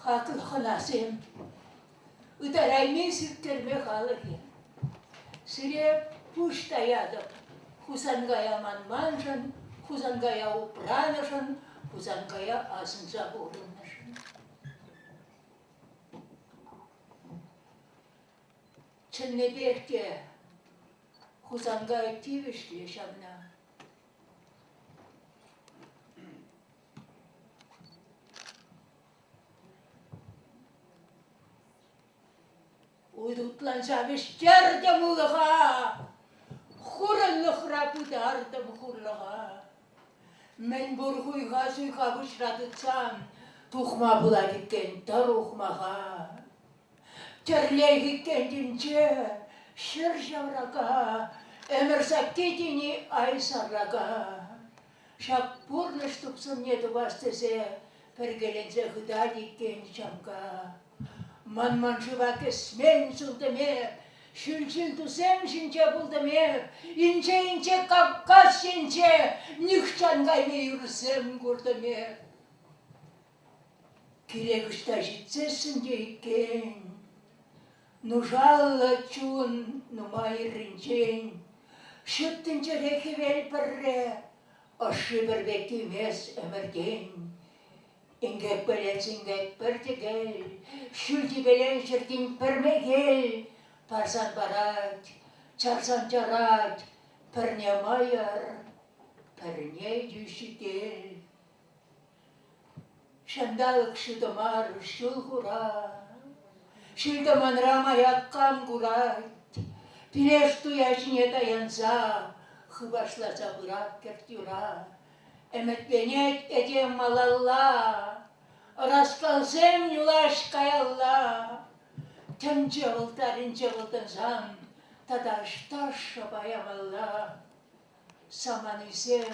Хатын хӑнасем, ытарайми сирттерме халӑх-и? Сире пуҫ таятӑп. Хусанкая манманшӑн, Хусанкая упранӑшӑн, Хусанкая асӑнса пурӑннӑшӑн. Чӑннипех те Хусанкай тивӗҫлӗ ҫавна. Уйрутлан ҫавӑҫтертӗм улӑха, Хурӑнлӑхра пытартӑм хурлӑха. Мӗн пур хуйха-суйха пуҫра тытсан, Тухма пулать иккен тӑр ухмаха. Тӗрлех иккен тӗнче ҫӗр ҫаврака, Ӗмӗр сакки тени ай саррака. ҫак пурнӑҫ тупсӑмне тупас тесе пӗркеленсе хытать иккен Чамка. Манман шыва кӗсмен сылтӑм эп, ҫӳлҫил тусем ҫинче пултӑм эп, инҫе-инҫе Кавказ енче нихҫан кайми юрсем куртӑм эп. Кирек ӑҫта ҫитсессӗн те иккен, нушаллӑ чун нумаййӑрринчен ҫут тӗнчере хӗвел пӗрре ӑшши пӗр пек тимес ӗмӗртен. Инкек пӗлет синкек пӗр тӗкел, ҫӳл типелен ҫӗртен пӗр мехел парсан парать, чарсан чарать пӗрне мӑйӑр, пӗрне йӳҫӗтел. Ҫанталӑк ҫутӑ мар, ҫул хура. Ҫил-тӑманра маяккам курать. Пилеш туя ҫине таянса хыпашласа пырать кӗрт-юра. Ӗмӗтленет этем малалла. Ӑраскалсем юлаҫ каялла. Тӗнче вӑлтарӗнче вӑлтансан тата ӑҫта шӑпа ямалла? Саманисем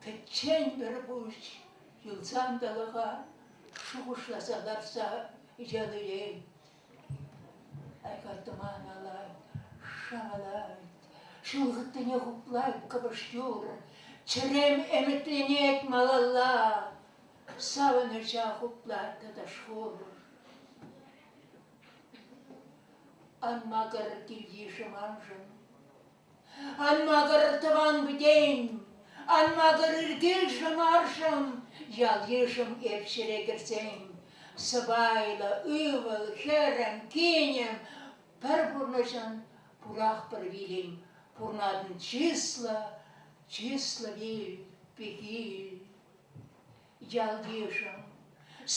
Пӗччен пӗр пуҫ юл сантӑлӑха шухӑшласа ларса ятӑлен. Айкартӑман алать, шавалать, ҫулхӑттине хуплать кӑпӑш юр. Чӗрем ӗмӗтленет малалла. Савӑнӑҫа хуплать тӑтӑш хур. Ан макӑр килйышӑ маншӑн. Ан макӑр, тӑван-пӗтен, ан макӑр ыркелшӗ-маршӑн ял-йышӑм эп ҫӗре кӗрсен. Сӑпайлӑ, ывӑл, хӗрӗм, кинӗм, пӗр пурнӑҫӑн пурах пӗр вилӗн, пурнатӑн чыслӑ, чыслӑ вил, пехил. Ялйышӑм,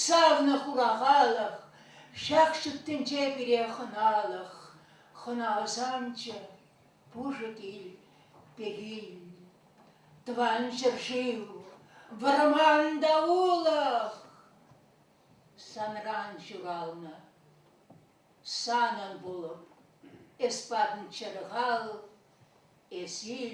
савнӑ хурахалӑх, ҫак ҫут тӗнче пире хӑналӑх, хӑналсамчӗ пушӑ кил, пегил. Тӑван ҫӗршыв, вӑрман та улӑх! Санран ҫуралнӑ, санӑн пулӑп, эс патӑн чӗрхал, эсир,